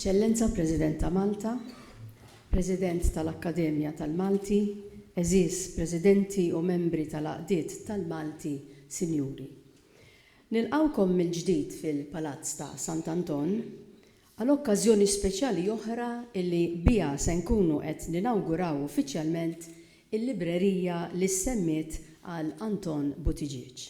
Eċċellenza President ta' Malta, President tal-Akkademja tal-Malti, għeżież Presidenti u Membri tal-Għaqdiet tal-Malti, Sinjuri. Nilqgħukom mill-ġdid fil-Palazz ta' Sant'Anton Għal okkażjoni speċjali oħra li biha se nkunu qed ninawguraw uffiċjalment il-librerija li ssemmiet għal Anton Buttigieg.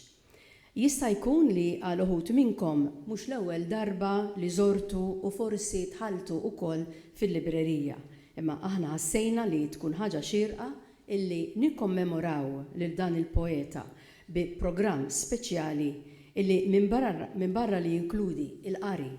Jista' jkun li għal uħud minnkom mhux l-ewwel darba li żortu u forsi dħaltu ukoll fil-librerija, imma aħna ħassejna li tkun ħaġa xierqa illi nikkommemoraw lil dan il-poeta bi programm speċjali illi minbarra li jinkludi il-qari,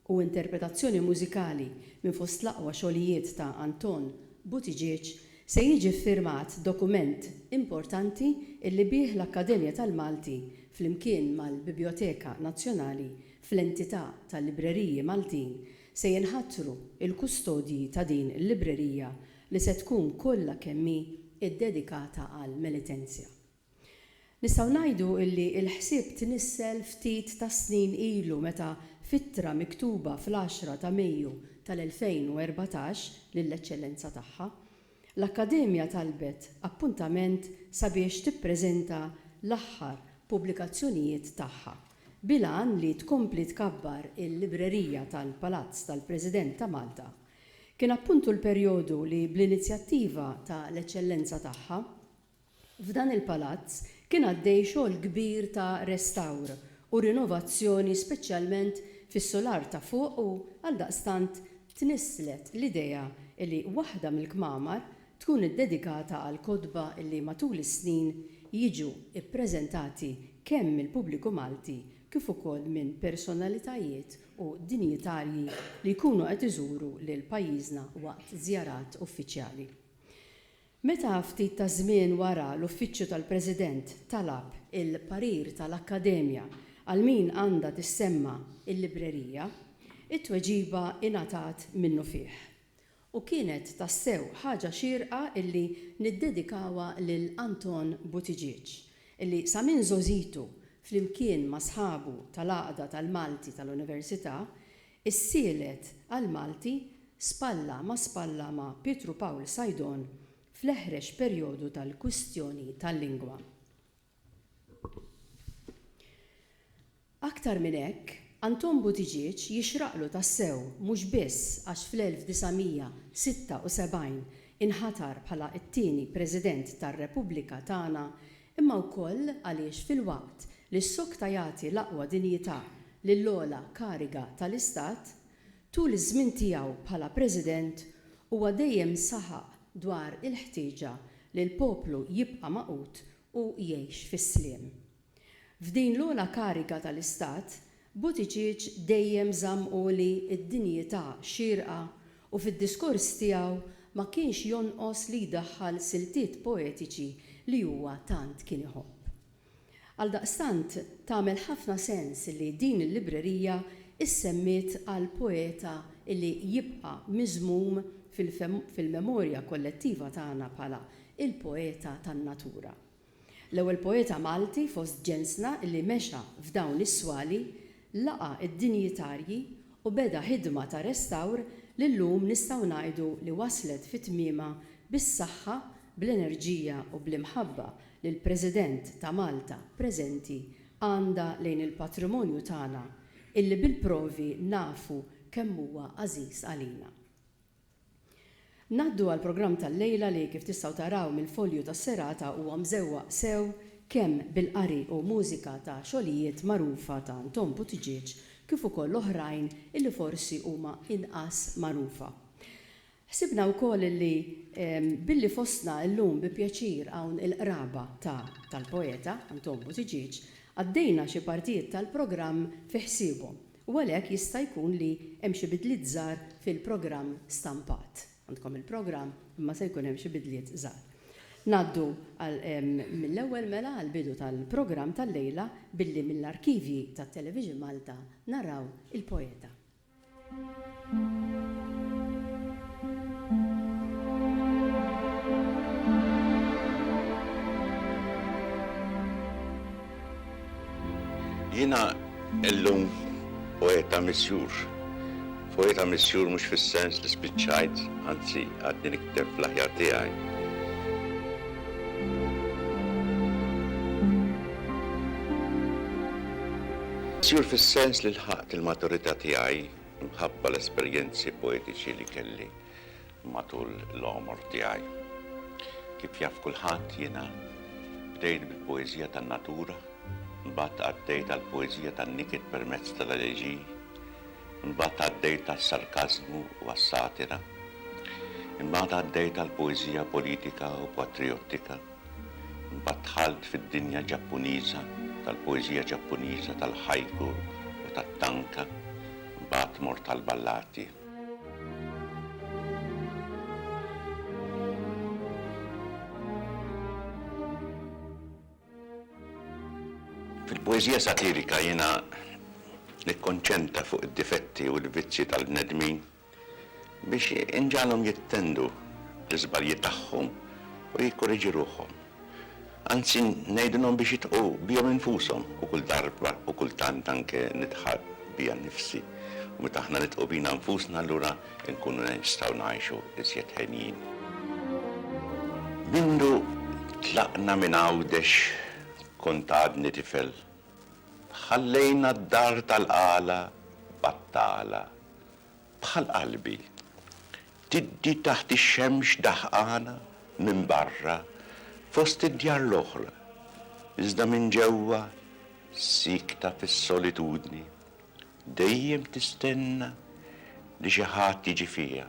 u interpretazzjoni mużikali minn fost l-aqwa xogħlijiet ta' Anton Buttigieg se jiġi ffirmat dokument importanti illi bih l-Akkademja tal-Malti flimkien mal-Bibjoteka Nazzjonali fl-entità tal-Libreriji Maltin se jinħatru l-kustodji ta' din il-librerija li se tkun kollha kemm hi ddedikata għall-Melitensia. Nistgħu ngħidu illi l-ħsieb tnissel ftit tas-snin ilu meta f'ittra miktuba fl-għaxra ta' Mejju tal-2014 lill-Eċċellenza Tagħha, l-Akkademja talbet appuntament sabiex tippreżenta l-aħħar pubblikazzjonijiet tagħha, bil-għan li tkompli tkabbar il-Librerija tal-Palazz tal-President ta' Malta. Kien appuntu l-perjodu li bl-inizjattiva ta' l-Eċċellenza Tagħha, F'dan il-palazz kien għaddej xogħol kbir ta' restawr u rinovazzjoni speċjalment fis-sular ta' fuq u, għaldaqstant, tnisslet l-idea li waħda mill-kmamar tkun iddedikata għall-kotba li matul is-snin jiġu ppreżentati kemm mill-pubbliku Malti kif ukoll minn personalitajiet u dinjitarji li jkunu qed iżuru lil pajjiżna waqt żjarat uffiċjali. Meta ftit taż-żmien wara l-Uffiċċju tal-President talab il-parir tal-Akkademja għal min għandha tissemma l-librerija, it-tweġiba ingħatat minnufih. U kienet tassew ħaġa xierqa illi niddedikawha lil Anton Buttigieg, illi sa minn żgħożitu flimkien ma' sħabu tal-Għaqda tal-Malti tal-Università, Is-sielet għall-Malti spalla ma' spalla ma' Pietru Pawl Saidon fl-eħrex perjodu tal-kwistjoni tal-lingwa. Aktar minn hekk, Anton Buttigieg jixraqlu tassew mhux biss għax fl-1976 inħatar bħala t-tieni President tar-Repubblika tagħna imma wkoll għaliex filwaqt li s-sokta jagħti l-aqwa dinjità lill-ogħla kariga tal-Istat, tul iż-żmien tiegħu bħala President huwa dejjem saħaq dwar il-ħtieġa li l-poplu jibqa' magħqud u jgħix fis-sliem. F'din l-ogħla kariga tal-Istat Buttigieg dejjem żamm għoli d-dinjità xierqa u fid-diskors tiegħu ma kienx jonqos li jdaħħal siltiet poetiċi li huwa tant kien iħobb. Għaldaqstant tagħmel ħafna sens li din il-librerija issemmiet għal poeta li jibqa' miżmum fil-memorja kollettiva tagħna bħala il-poeta tan-natura. L-ewwel poeta Malti fost ġensna li mexa f'dawn is-swali, laqa' d-dinjitarji u beda ħidma ta' restawr li llum nistgħu ngħidu li waslet fi tmiemha bis-saħħa, bl-enerġija u bl-imħabba li l-President ta' Malta preżenti għandha lejn il-patrimonju tagħna illi bil-provi nafu kemm huwa għażiż għalina. Ngħaddu għall-programm tal-lejla li kif tistgħu taraw mill-folju tas-serata huwa mżewwaq sew kemm bil-qari u mużika ta' xogħlijiet magħrufa ta' Anton Buttigieg kif ukoll oħrajn illi forsi huma inqas magħrufa. Ħsibna wkoll illi billi fostna illum bi pjaċir hawn il-qraba ta' tal-poeta Anton Buttigieg, għaddejna xi partijiet tal-programm fi ħsiebhom u għalhekk jista' jkun li hemm xi bidliet żgħar fil-programm stampat. Għandkom il-programm imma se jkun hemm xi bidliet żgħar. Ngħaddu għal mill-ewwel mela għall-bidu tal-programm tal-lejla billi mill-arkivji ta' Television Malta naraw Il-Poeta. Jiena illum poeta misjur. Poeta misjur mhux fis-sens li spiċċajt, anzi għadni nikteb fl-aħjar tiegħi. Misjur fis-sens li lħaqt il-maturità tiegħi Minħabba l-esperjenzi poetiċi li kelli matul l-għomor tiegħi. Kif jaf kulħadd, jiena bdejt bil-poeżija tan-natura, imbagħad għaddejt għall-poeżija tan-niket permezz tal-eleġiji, imbagħad għaddejt għas-sarkażmu u għas-satira, imbagħad għaddejt għall-poeżija politika u patrijottika, Imbagħad dħalt fid-dinja Ġappuniża tal-poeżija Ġappuniża, tal-haiku u tat-tanka, imbagħad mort għall-ballati. Fil-poeżija satirika jiena nikkonċentra fuq id-difetti u l-vizzji tal-bnedmin biex inġagħalhom jittendu l-iżbalji tagħhom u jikkoriġu ruħhom. Anzi, ngħidilhom biex jidħqu bihom infushom, u kull darba u kultant anke nidħaq bija nnifsi. U meta aħna nidħqu bina nfusna allura nkunu nistgħu ngħixu iżjed henjin. Mindu tlaqna minn Għawdex kont għadni tifel. Ħallejna d-dar tal-qala battala bħal qalbi, tiddi taħt ix-xemx daħqana minn barra fost id-djar l-oħra, iżda minn ġewwa siekta fis-solitudni, dejjem tistenna li xi ħadd jiġi fiha.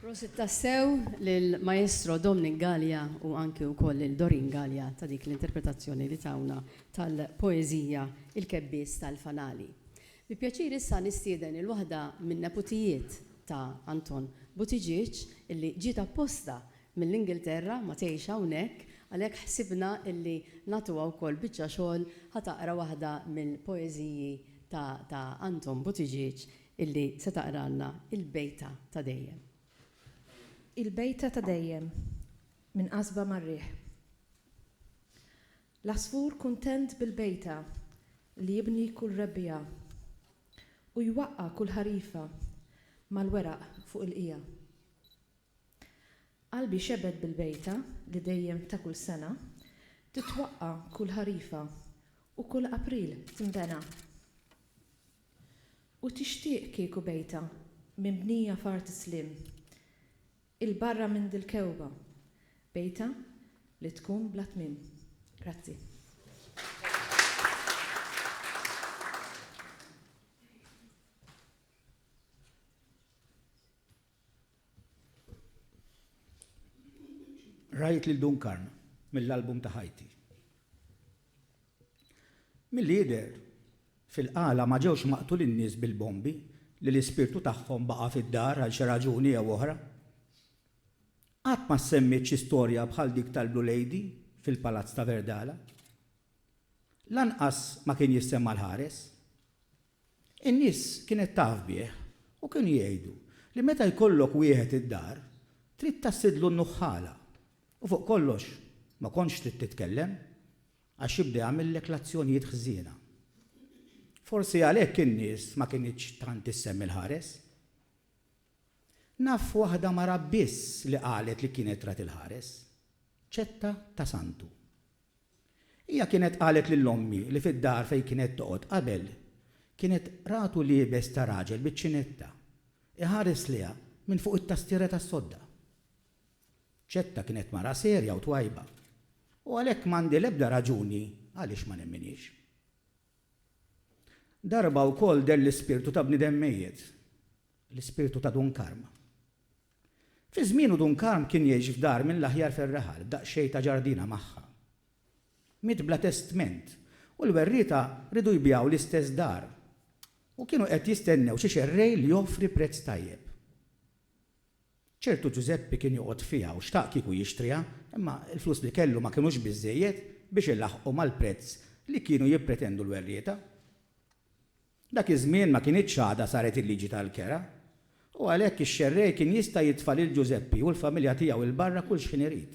Prosit tassew lil Maestro Dominic Galea u anki wkoll lil Doreen Galea ta' dik l-interpretazzjoni li tawna tal-poeżija Il-Kebbies tal-Fanali. Bi pjaċir issa nistieden il waħda min-neputijiet ta' Anton Buttigieg illi ġiet apposta mill-Ingilterra ma tgħix hawnhekk għalhekk ħsibna illi nagħtuha wkoll biċċa xogħol ħa taqra waħda mill-poeżiji ta' ta' Anton Buttigieg Illi se taqralna il-bejta ta' dejjem. Il-bejta ta' dejjem, Minn qasba mar-riħ. L-għasfur kuntent bil-bejta li jibni kull rebbiegħa u jwaqqa' kull ħarifa mal-weraq fuq il-qiegħa. Qalbi xebet bil-bejta li dejjem ta' kull sena titwaqqa' kull ħarifa u kull April tinbena. U tixtieq kieku bejtha minbnija f'art sliem, 'il barra minn dil-kewba, bejtha li tkun bla tmiem. Grazzi. Rajt lil Dunkarm mill-album ta' ħajti. Milli jidher, fil-qala ma ġewx maqtulin nies bil-bombi li l-ispirtu tagħhom baqa' fid-dar għal xi raġuni jew oħra. Qatt ma ssemmiet xi storja bħal dik tal-Blue Lady fil-Palazz ta' Verdala. Lanqas ma kien jissemma l-ħares. In-nies kienet taf bih u kienu jgħidu li meta jkollok wieħed id-dar, trid tassidlu n-nuħħala u fuq kollox ma kontx trid titkellem għax jibda jagħmillek l-azzjonijiet ħżiena. Forsi għalhekk in-nies ma kinitx tant issemmi l-ħares. Naf waħda mara biss li qalet li kienet rat il-ħares, ċetta ta' santu. Hija kienet qalet lil ommi li fid-dar fejn kienet toqgħod qabel kienet ratu liebes ta' raġel biċ-ċinetta iħares lejha minn fuq it-tastiera tas-sodda. Ċetta kienet mara serja u twajba u għalhekk m'għandi l-ebda raġuni għaliex ma nemminhiex. Darba wkoll deher l-ispirtu ta' bniedem mejjet, l-ispirtu ta' Dun Karma. Fi żmienu Dun Karm kien jgħix f'dar mill-aħjar fir-raħal b'daqsxejn ta' ġardina magħha. Miet bla testment u l-werrieta riedu jbigħu l-istess dar u kienu qed jistennew xi xerrej li joffri prezz tajjeb. Ċertu Ġużeppi kien joqgħod fiha u xtaq kieku jixtriha imma l-flus li kellu ma kinux biżżejjed biex ilaħħqu mal-prezz li kienu jippretendu l-werrieta. Dak iż-żmien ma kinitx għadha saret il-liġi tal-kera, u għalhekk ix-xerrej kien jista' jitfa' lil Ġużeppi u l-familja tiegħu 'l barra kull xħin irid.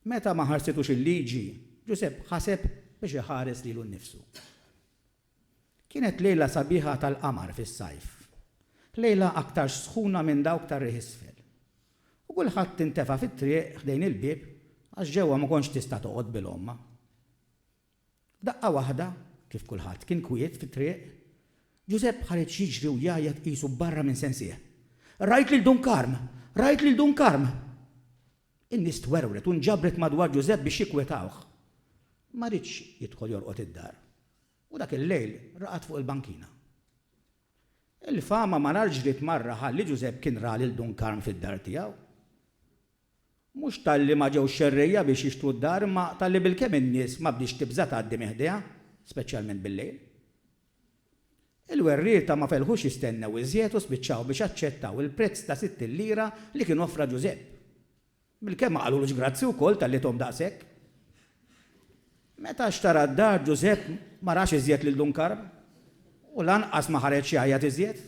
Meta ma ħarsitux il-liġi, Ġużepp ħaseb biex iħares lilu nnifsu. Kienet lejla sabiħa tal-qamar fis-sajf, lejla aktarx sħuna minn dawk tar-riħ isfel, u kulħadd intefa' fit-triq ħdejn il-bieb għax ġewwa ma kontx tista' toqgħod bil-għomma. F'daqqa waħda, kif kulħadd kien kwiet fit-triq, Ġużepp ħareġ jiġri u jgħajjat qisu barra minn sensih, Rajt lil Dun Karm! Rajt lil Dun Karm! In-nies twerwret u nġabret madwar Ġużepp biex jikkwetawh. Ma riedx jidħol jorqod id-dar u dak il-lejl raqad fuq il-bankina. Il-fama malar ġriet marra ħalli Ġużepp kien ra lil Dun Karm fid-dar tiegħu. Mhux talli ma ġewx xerrejja biex jixtru d-dar imma talli bilkemm in-nies ma bdiex tibża' tgħaddi minn ħdejha, speċjalment bil-lejl. Il-werrieta ma felħux jistennew iżjed u spiċċaw biex aċċettaw il-prezz ta' sittin lira li kien offra Ġużepp. Bilkemm ma qalulux grazzi wkoll talli thom daqshekk. Meta xtara d-dar Ġużepp ma rax iżjed lil Dun Karm u lanqas ma ħareġ jgħajjat iżjed.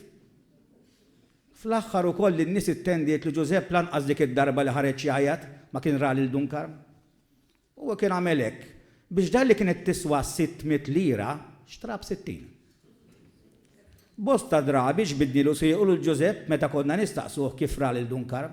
Fl-aħħar ukoll in-nies ittendiet li Ġużepp lanqas dik id-darba li ħareġ jgħajjat ma kien ra lil Dun Karm. Huwa kien għamel hekk biex dar li kienet tiswa sitt mitt lira xtraha b'sittin. Bosta drabi ġbidnielu siequ lil Ġużepp meta konna nistaqsuh kif ra lil Dun Karm.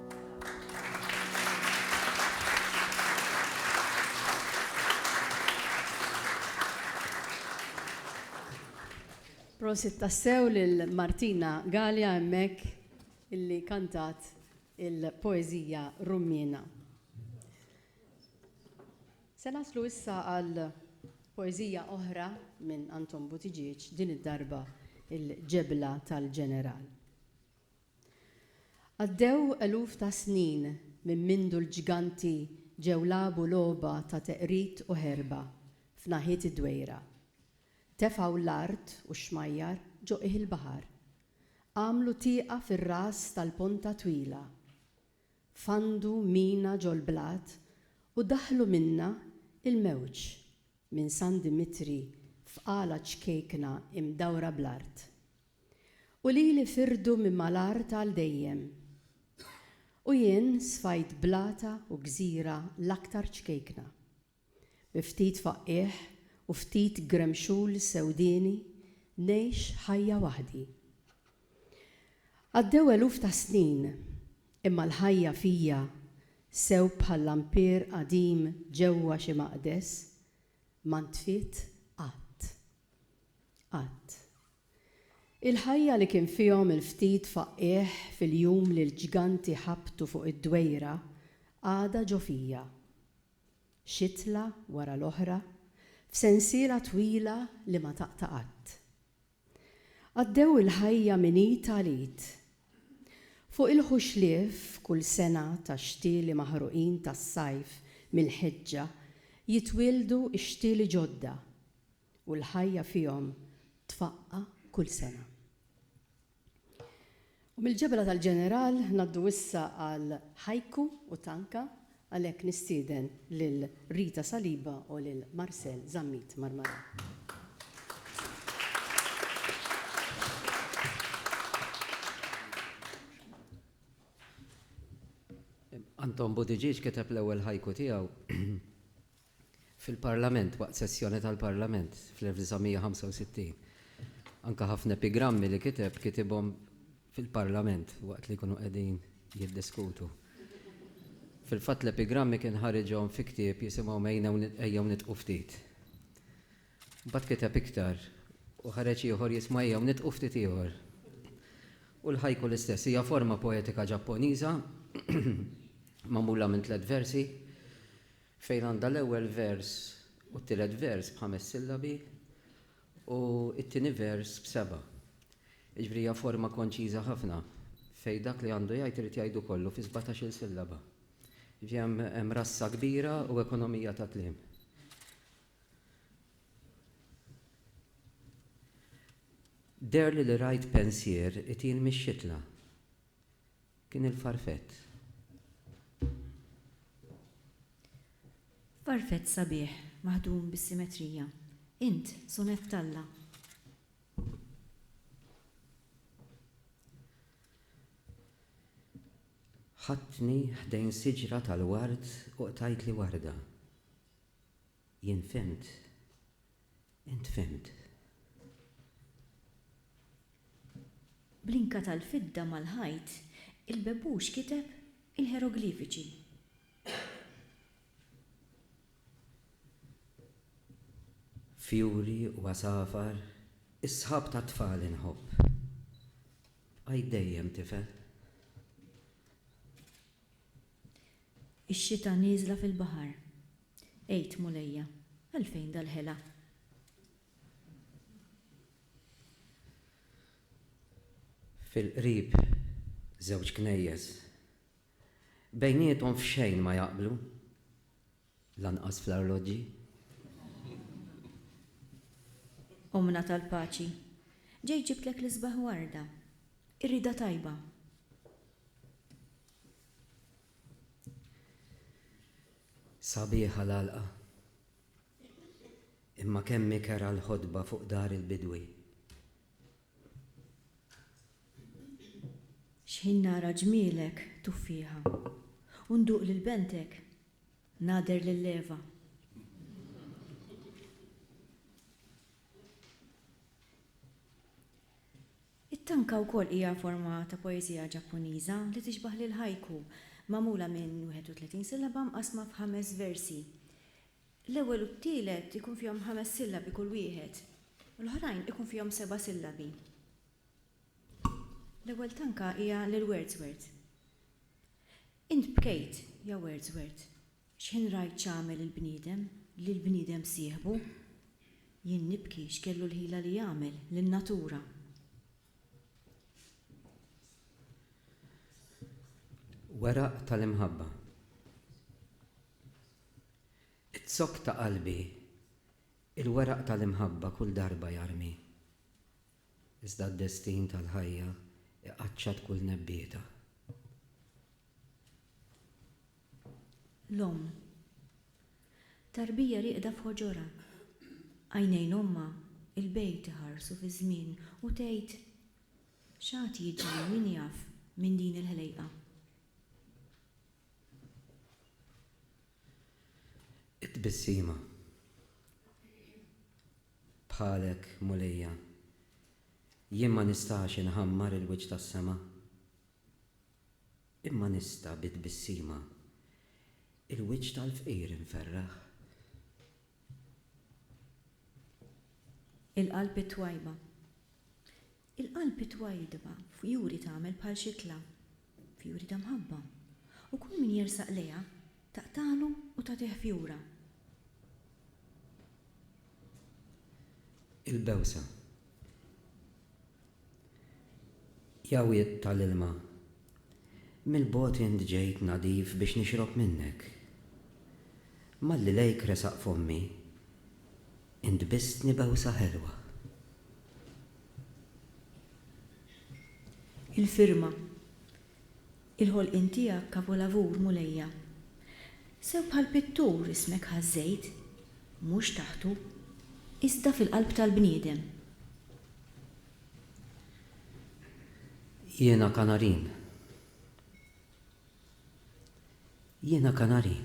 Prosit tassew lil Martina Gallia hemmhekk illi kantat il-poeżija Rummina. Se naslu issa għal poeżija oħra minn Anton Butiġieġ din id-darba il-ġebla tal-ġeneral. Għaddew eluf ta' snin minn mindu l-ġganti ġew lagħbu logħba ta' teqrid u ħerba f'naħiet id-Dwejra. Tefgħu l-art u x-xmajjar ġo qiegħ il-baħar. Għamlu tieqa fir-ras tal-ponta twila. Fandu mina ġol-blat u daħħlu minnha il-mewġ. minn San Dimitri f'qala ċkejkna imdawra bl-art, u lili firdu minn mal-art għal dejjem, u jien sfajt blata u gżira l-aktar ċkejkna, bi ftit faqqiegħ u ftit gremxul sewdieni ngħix ħajja waħdi. Għaddew eluf ta' snin. Imma l-ħajja fija, sew bħal lampier qadim ġewwa xi maqdes, ma ntfiet qatt. Qatt. Il-ħajja li kien fihom il-ftit faqqiegħ fil-jum li l-ġganti ħabtu fuq id-dwejra għadha ġo fija. Xitla wara l-oħra, f'sensiela twila li ma taqta' qatt. Għaddew il-ħajja minn id għal id. Fuq il-ħuxlief kull sena tax-xtieli maħruqin tas-sajf mill-ħeġġa jitwieldu x-xtieli ġodda u l-ħajja fihom tfaqqa' kull sena. U mill-ġebla tal-ġeneral ngħaddu issa għal Haiku u Tanka, għalhekk nistieden lil Rita Saliba u lil Marcel Zammit Marmarà. Anton Buttigieg kiteb l-ewwel haiku tiegħu. fil-Parlament, waqt sessjoni tal-Parlament fl-1965. Anke ħafna epigrammi li kiteb, kitibhom fil-Parlament waqt li jkunu qegħdin jiddiskutu. Fil-fatt l-epigrammi kien ħariġhom fi ktieb jisimhom Ejjew Nidqu Ftit. Mbagħad kiteb iktar u ħareġ ieħor jismu Ejjew Nidqu Ftit Ieħor. U l-haiku l-istess, hija forma poetika Ġapponiża magħmula minn tliet versi. Fejn għandha l-ewwel vers u t-tielet vers b'ħames sillabi u t-tieni vers b'seba'. Jiġifieri hija forma konċiża ħafna fejn dak li għandu jgħid irid jgħidu kollu fi sbatax-il sillaba. Jiġifieri hemm rassa kbira u ekonomija ta' kliem. Deherli li rajt pensier itil mix-xitla. Kien il-farfett. Farfett sabiħ, maħdum bis-simetrija. Int, sonett t'Alla. Ħadtni ħdejn siġra tal-ward u qtajtli warda. Jien fhimt. Int fhimt. Bl-inka tal-fidda mal-ħajt, il-bebbuċ kiteb il-ħeroglifiċi. Fjuri u għasafar, is-sħab tat-tfal inħobb. Bqajt dejjem tifel. Ix-xita nieżla fil-baħar. Għid, Mulejja, għalfejn dal-ħela? Fil-qrib żewġ knejjes. Bejniethom f'xejn ma jaqblu, lanqas fl-arloġġi. Ommna tal-paċi, ġejt ġibtlek l-isbaħ warda. Irriedha tajba. Sabiħa l-għalqa. Imma kemm hi kerha l-ħotba fuq dar il-bidwi. X'ħin nara ġmielek, tuffieħa, u nduq lil bentek, nagħder lil Eva. It-tanka wkoll hija forma ta' poeżija Ġappuniża li tixbah lill-haiku, magħmula minn 31 sillaba mqassma f'ħames versi. L-ewwel u t-tielet ikun fihom ħames sillabi kull wieħed, u l-oħrajn ikun fihom seba' sillabi. L-ewwel tanka hija lil Wordsworth. Int bkejt, ja Wordsworth. X'ħin rajt x'għamel il-bniedem lil bniedem sieħbu? Jien nibki x'kellu l-ħila li jagħmel lin-natura. Weraq tal-imħabba Iz-zokk ta' qalbi il-weraq tal-imħabba kull darba jarmi. Iżda d-destin tal-ħajja iqaċċat kull nebbieta. L-omm. Tarbija rieqda f'ħoġorha. Għajnejn ommha 'l bgħid iħarsu fiż-żmien u tgħid, X'għad jiġri min jaf minn din il-ħlejqa? It-tbissima. Bħalek, Mulija, jien ma nistax inħammar il-wiċċ tas-sema. Imma nista' bi tbissima il-wiċċ tal-fqir inferraħ. Il-qalb it-twajba. Il-qalb it-twajdba fjuri tagħmel bħal xitla, fjuri ta' mħabba, u kull min jersaq lejha taqtagħlu u tagħtih fjura. Il-bewsa. Ja wied tal-ilma Mill-bogħod int ġejt nadif biex nixrob minnek. Malli lejk resaq fommi, int bistni bewsa ħelwa. Il-firma, Il-ħolqien tiegħek kavolavur, Mulejja. Sew bħal pittur ismek ħażżejt, mhux taħtu, iżda fil-qalb tal-bniedem. Jiena kanarin. Jiena kanarin,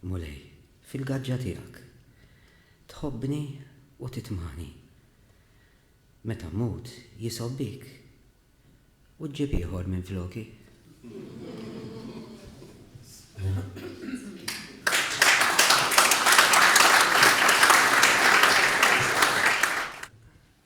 Mulej, fil-gaġġa tiegħek. Tħobbni u titmani. Meta mmut, jisgħob bik u ġġib ieħor minfloki.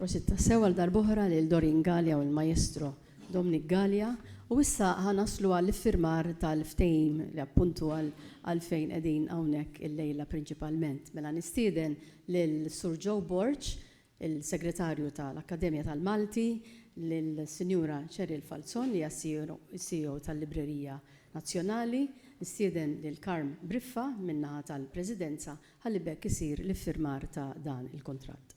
Prosit tassew għal darb'oħra lil Doreen Galea u l-Majestro Dominic Galea u issa ħa naslu għall-iffirmar tal-ftehim li appuntu għal għalfejn qegħdin hawnhekk illejla prinċipalment. Mela nistieden lil Sur Joe Borg il-Segretarju tal-Akkademja tal-Malti, lis-Sinjura Cheryl Falzon li hija s-CEO tal-Librerija Nazzjonali, nistieden lil Carm Briffa min-naħa tal-Presidenza ħalli b'hekk isir l-iffirmar ta' dan il-kuntratt.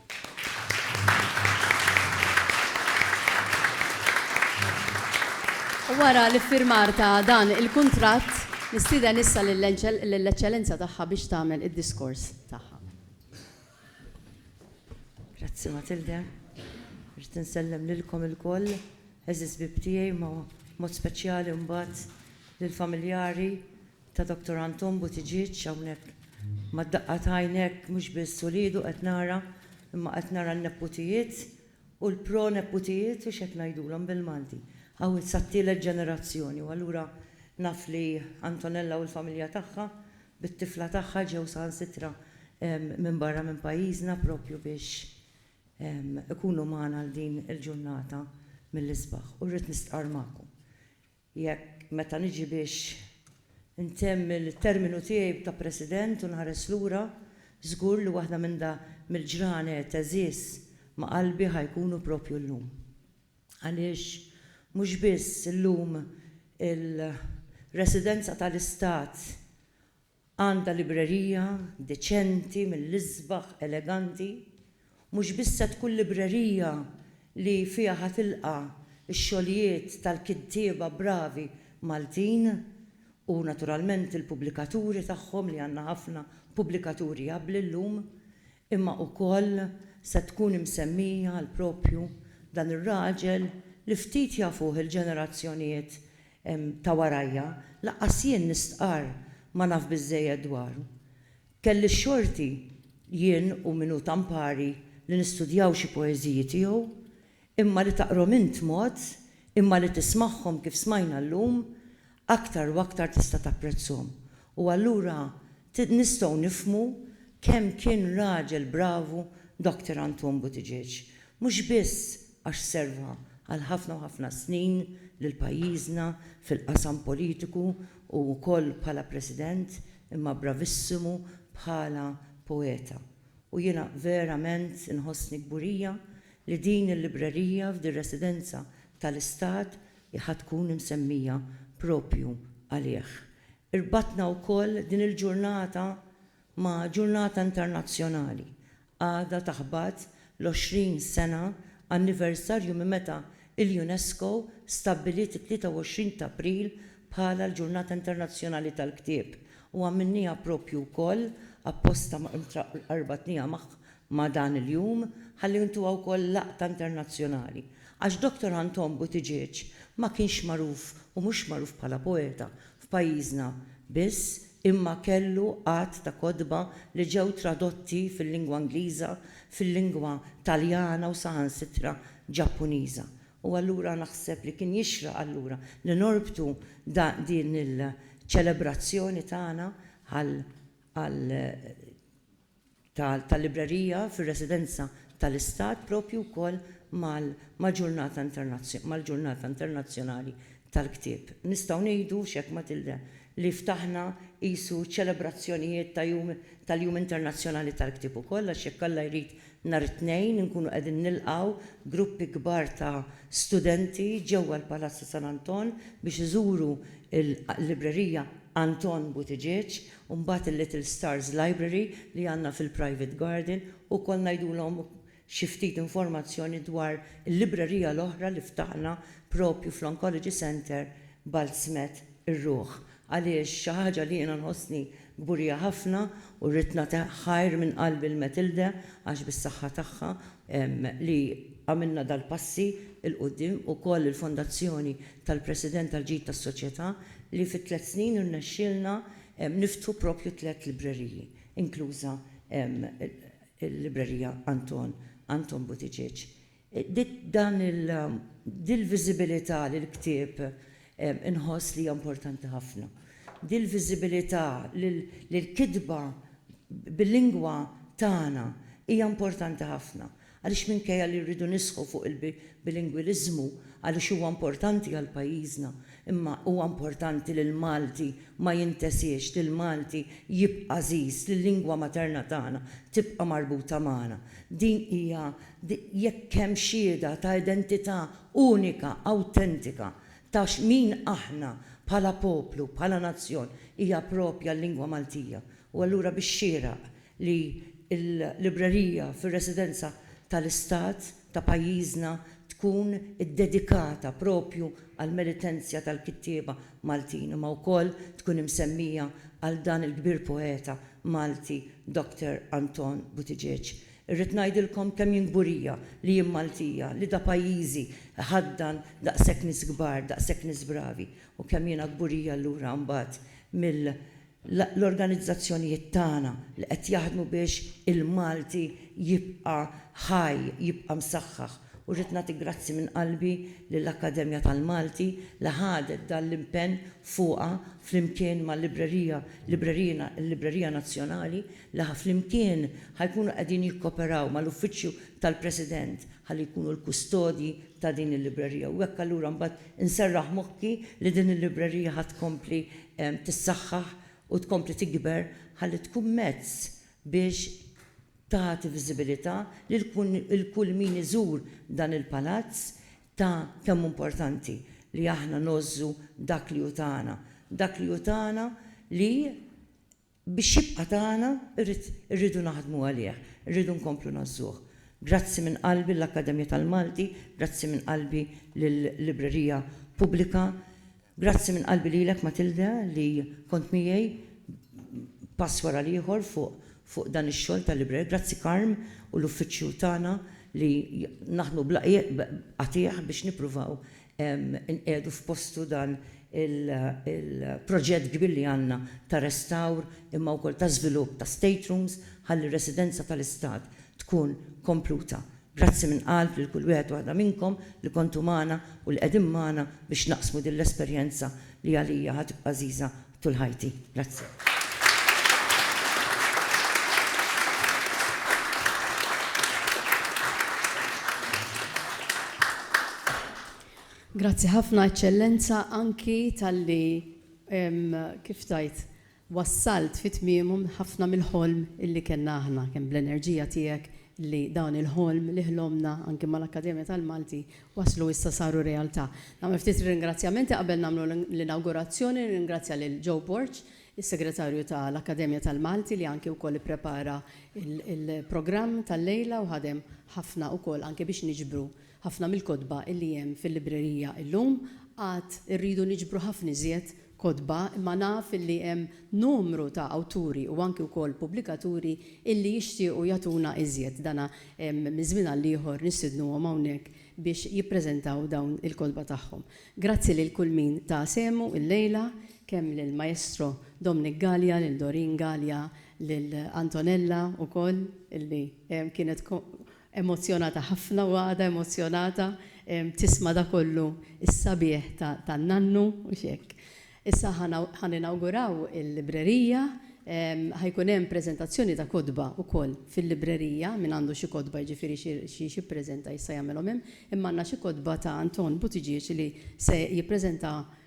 Wara l-iffirmar ta' dan il-kuntratt, nistieden issa lill-Eċċellenza Tagħha biex tagħmel id-diskors tagħha. Grazzi Matilde. Irrid insellem lilkom ilkoll, għeżież bieb tiegħi, ma' mod speċjali mbagħad lill-familjari, ta' Doctor Anton Buttigieg hawnhekk mad-daqqa ta' għajnek mhux biss uliedu qed nara imma qed nara n-neputijiet u l-pro neputijiet u x'hekk ngħidulhom bil-Malti hawn sat-tielet ġenerazzjoni u allura naf li Antonella u l-familja tagħha bit-tifla tagħha ġew saħansitra minn barra minn pajjiżna propju biex ikunu magħna għal din il-ġurnata mill-isbaħ u rrid nistqarr magħkom Jekk, meta niġi biex intemm il-terminu tiegħi ta' President u nħares lura, żgur li waħda minn da mill-ġranet għeżież ma' qalbi ħa jkunu proprju llum. Għaliex mhux biss illum il-Residenza tal-Istat Għandha librerija deċenti mill-isbaħ eleganti, mhux biss se tkun librerija li fiha ħa tilqa' x-xogħlijiet tal-kittieba bravi Maltin u naturalment il-pubblikaturi tagħhom li għandna ħafna pubblikaturi abbli llum, Imma ukoll se tkun imsemmija għal propju dan ir-raġel li ftit jafuh il-ġenerazzjonijiet ta' warajja, lanqas jien nistqarr ma naf biżżejjed dwaru. Kelli x-xorti, jien u min hu tampari, li nistudjaw xi poeżiji tiegħu, imma li taqrom int mod, imma li tismagħhom kif smajna llum, aktar u aktar tista' tapprezzhom. U allura nistgħu nifhmu kemm kien raġel bravu Doctor Anton Buttigieg. Mhux biss għax serva għal ħafna u ħafna snin lil pajjiżna fil-qasam politiku u wkoll bħala President, imma bravissimu bħala poeta. U jiena verament inħossni kburija li din il-librerija f'din residenza tal-Istat hi ħa tkun imsemmija propju għalih. Irbatna wkoll din il-ġurnata ma' ġurnata internazzjonali. Għada taħbat l-20 sena anniversarju minn meta l-UNESCO stabbiliet it-23 t'April bħala l-Ġurnata Internazzjonali tal-Ktieb u għamilniha propju wkoll apposta ma' rbatniha ma' dan il-jum ħalli intuha wkoll laqta internazzjonali, għax Doctor Anton Buttigieg ma kienx magħruf u mhux magħruf bħala poeta f'pajjiżna biss imma kellu għadd ta' kotba li ġew tradotti fil-lingwa Ingliża, fil-lingwa Taljana u saħansitra Ġappuniża. U allura naħseb li kien jixraq allura li norbtu din il-ċelebrazzjoni tagħna għal tal-librerija fir-residenza tal-Istat proprju wkoll mal-Ġurnata Internazzjonali tal-Ktieb. Nistgħu ngħidu, x'hekk Matilde, li ftaħna qisu ċelebrazzjonijiet ta' jum tal-Jum Internazzjonali tal-Ktieb ukoll għax jekk Alla jrid nhar it-Tnejn inkunu qegħdin nilqgħu gruppi kbar ta' studenti ġewwa l-Palazzu San Anton biex iżuru l-librerija Anton Buttigieg u mbagħad il-Little Stars Library li għandna fil-Private Garden u wkoll ngħidulhom xi ftit informazzjoni dwar il-librerija l-oħra li ftaħna proprju fl-Oncology Centre Baltzmet ir-Ruħ għaliex xi ħaġa li jiena nħossni kburija ħafna u rrid nagħti ħajr minn qalbi lil Matilde għax bis-saħħa tagħha li għamilna dal-passi 'l quddiem, ukoll il-Fondazzjoni tal-President għall-Ġid tas-Soċjetà li fi tliet snin irnexxielna niftħu proprju tliet libreriji, inkluża l-Librerija Anton, Anton Buttigieg. Dan il, din il-viżibilità lill-ktieb inħoss li hija importanti ħafna. Din il-viżibilità li l-kitba bil-lingwa tagħna hija importanti ħafna. Għaliex minkejja li rridu nisħu fuq il-bilingwiliżmu għaliex huwa importanti għal pajjiżna, imma huwa importanti li l-Malti ma jintesiex, li l-Malti jibqa' għażiż, li l-lingwa materna tagħna tibqa' marbuta magħna. Din hija, jekk hemm xhieda ta' identità unika, awtentika ta' min aħna bħala poplu, bħala nazzjon, hija proprja l-lingwa Maltija. U allura bix-xieraq li l-librerija fir-residenza tal-Istat ta' pajjiżna tkun iddedikata proprju għall-meritenza tal-kittieba Maltin imma wkoll tkun imsemmija għal dan il-kbir poeta Malti Doctor Anton Buttigieg. Irrid ngħidilkom kemm jien kburija li jien Maltija, li da pajjiżi jħaddan daqshekk nies kbar, daqshekk nies bravi u kemm jiena kburija allura mbagħad mill L-organizzazzjonijiet tagħna li qed jaħdmu biex il-Malti jibqa' ħaj, jibqa' msaħħaħ. U rrid nagħti grazzi minn qalbi lill-Akkademja tal-Malti li ħadet dan l-impenn fuqha flimkien mal-librerija, librerina, il-Librerija Nazzjonali li ħa flimkien ħa jkunu qegħdin jikkoperaw mal-Uffiċċju tal-President ħalli jkunu l-kustodji ta' din il-librerija u hekk allura mbagħad inserraħ moħħi li din il-librerija ħa tkompli tissaħħaħ u tkompli tikber ħalli tkun mezz biex tagħti viżibilità lil kull min iżur dan il-palazz ta' kemm hu importanti li aħna ngħożżu dak li hu tagħna, dak li hu tagħna li Biex jibqa' tagħna irrid irridu naħdmu għalih, irridu nkomplu ngħażżuh. Grazzi minn qalbi lill-Akkademja tal-Malti, grazzi minn qalbi lill-Librerija Pubblika, grazzi minn qalbi lilek Matilde li kont miegħi pass wara l-ieħor fuq fuq dan ix-xogħol tal-librerija, grazzi Carm u l-uffiċċju tagħna li naħdmu bla qiegħ bla qatiegħ biex nippruvaw inqiegħdu f'postu dan il-proġett kbir li għandna ta' restawr imma wkoll ta' żvilupp ta' staterooms ħalli r-residenza tal-Istat tkun kompluta. Grazzi minn qalb lil kull wieħed u waħda minnkom li kontu magħna u li qegħdin magħna biex naqsmu din l-esperjenza li għalija ħa tibqa' għażiża tul ħajti. Grazzi. Grazzi ħafna Eċċellenza anki talli kif tgħid wassalt fi tmiemu ħafna mill-ħolm illi kellna aħna kemm bl-enerġija tiegħek li dan il-ħolm li ħlomna anki mal-Akkademja tal-Malti waslu issa saru realtà. Nagħmel ftit ringrazzjamenti qabel nagħmlu l-inawgurazzjoni, nirringrazzja lil Joe Borg, is-Segretarju ta' l-Akkademja tal-Malti li anki wkoll ipprepara l-programm tal-lejla u ħadem ħafna wkoll anki biex niġbru ħafna mill-kotba illi hemm fil-librerija illum. Għad irridu niġbru ħafna iżjed kotba imma naf illi hemm numru ta' awturi u anki wkoll pubblikaturi illi jixtiequ jagħtuna iżjed. Dana minn żmien għal ieħor nistidnuhom hawnhekk biex jippreżentaw dawn il-kotba tagħhom. Grazzi lil kull min ta sehmu illejla, kemm lil Maestro Dominic Galea, lil Doreen Galea, lil Antonella wkoll illi kienet Emozzjonata ħafna u għadha emozzjonata tisma' dak kollu s-sabiħ tan-nannu, mhux hekk? Issa ħa ninawguraw il-librerija, ħa jkun hemm preżentazzjoni ta' kotba wkoll fil-librerija, min għandu xi kotba jiġifieri xi jippreżenta jista' jagħmilhom hemm, imma għandna xi kotba ta' Anton Buttigieg li se jippreżenta